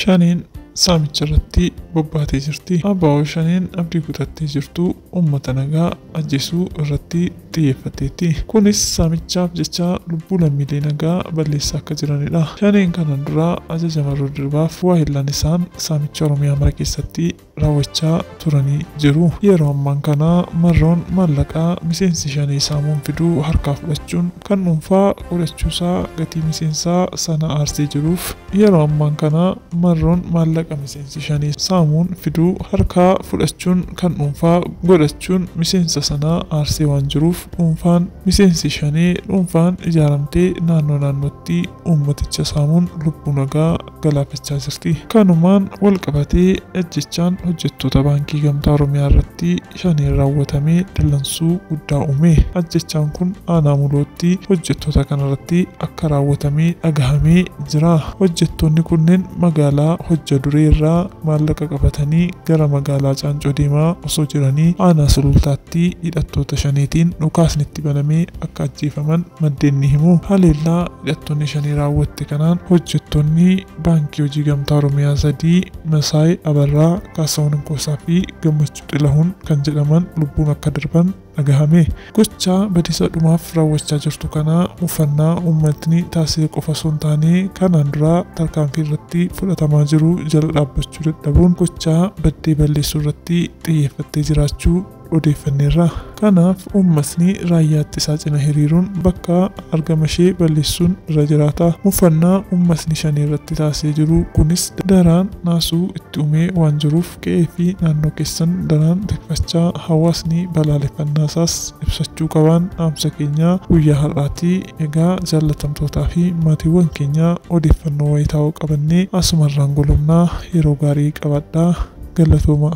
Shaneen saamicha irratti bobbaatee jirti. Abaa'oo shaneen abdii kutattee jirtu uummata nagaa ajjeesuu irratti xiyyeeffateetti. Kunis saamichaaf jecha lubbuu lammiilee nagaa balleessaa akka jiranidha. Shaneen kanaan dura Ajaja Marroo Dirribaaf waahillan isaan saamicha Oromiyaa mara keessatti raawwachaa turanii jiru. Yeroo ammaan kana Marroon maallaqa miseensi Shanee saamuun fidu harkaa fudhachuun kan dhuunfaa godhachuusaa gatii miseensaa sana aarsee jiruuf, Yeroo ammaan kana marroon maallaqa miseensi shanee saamuun fidu harkaa fudhachuun kan dhuunfaa godhachuun miseensa sana aarsee waan jiruuf dhuunfaan miseensi shanee dhuunfaan ijaaramtee naannoo naannootti uummaticha saamuun lubbuu nagaa galaafachaa jirti. Kanumaan walqabatee ajjeechaan hojjettoota Baankii Gamtaa Oromiyaa irratti shaneen raawwatame dallansuu guddaa uume. Ajjeechaan kun aanaa Mulootti hojjettoota kanarratti akka raawwatame dhagahamee jira. Hojjettoonni kunneen magaalaa Hojja Duree irraa maallaqa qabatanii gara magaalaa Caancoo deemaa osoo jiranii aanaa Sulultaatti hidhattoota shaneetiin dhukaasni itti banamee akka ajjeefaman maddeen ni himu. Haleellaa hidhattoonni shanee raawwatte kanaan hojjettoonni Baankii Hojii Gamtaa Oromiyaa sadii Masaay Abarraa, Kaasahuun Inkoosaa fi Gammachuu. Xilahuun kan jedhaman lubbuun akka darban dhagahame. Gochaa badiisa dhumaaf raawwachaa jirtu kana mufannaa uummatni taasise qofa osoo hin taane kanaan dura tarkaanfii irratti fudhatamaa jiru jala dhaabbachuu dadhabuun gochaa baddee balleessuu irratti xiyyeeffattee jiraachuu odeeffanneerra. Kanaaf uummatni Raayyaa Ittisaa cina hiriiruun bakka argama ishee balleessuun irra jiraata. Mufannaa uummatni Shanee irratti taasisee jiru kunis daraan naasuu itti uumee waan jiruuf qe'ee fi naannoo keessan daraan tikfachaa hawaasni balaaleffannaa isaas ibsachuu qabaan dhaamsa keenya guyyaa har'aati. Egaa jaallatamtootaa fi maatiiwwan keenya odeeffannoo wayitaawoo qabannee asumarraan golobna. Yeroo gaarii qabaadhaa. Galatoomaa!